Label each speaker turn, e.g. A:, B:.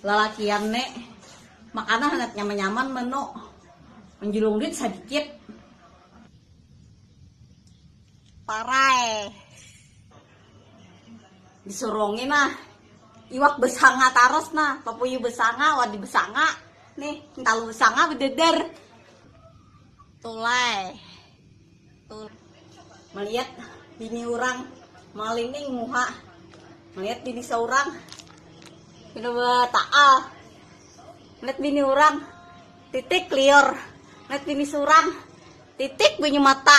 A: Lalakian ne makana handak nyaman nyaman menu menjulung duit sadikit parai. disurungi nah iwak besanga taros nah papuyu besanga wadi besanga nih entalu besanga bededer tulai Tul melihat bini orang malining muha melihat bini seorang kedua taal melihat bini orang titik liur melihat bini seorang titik bunyi mata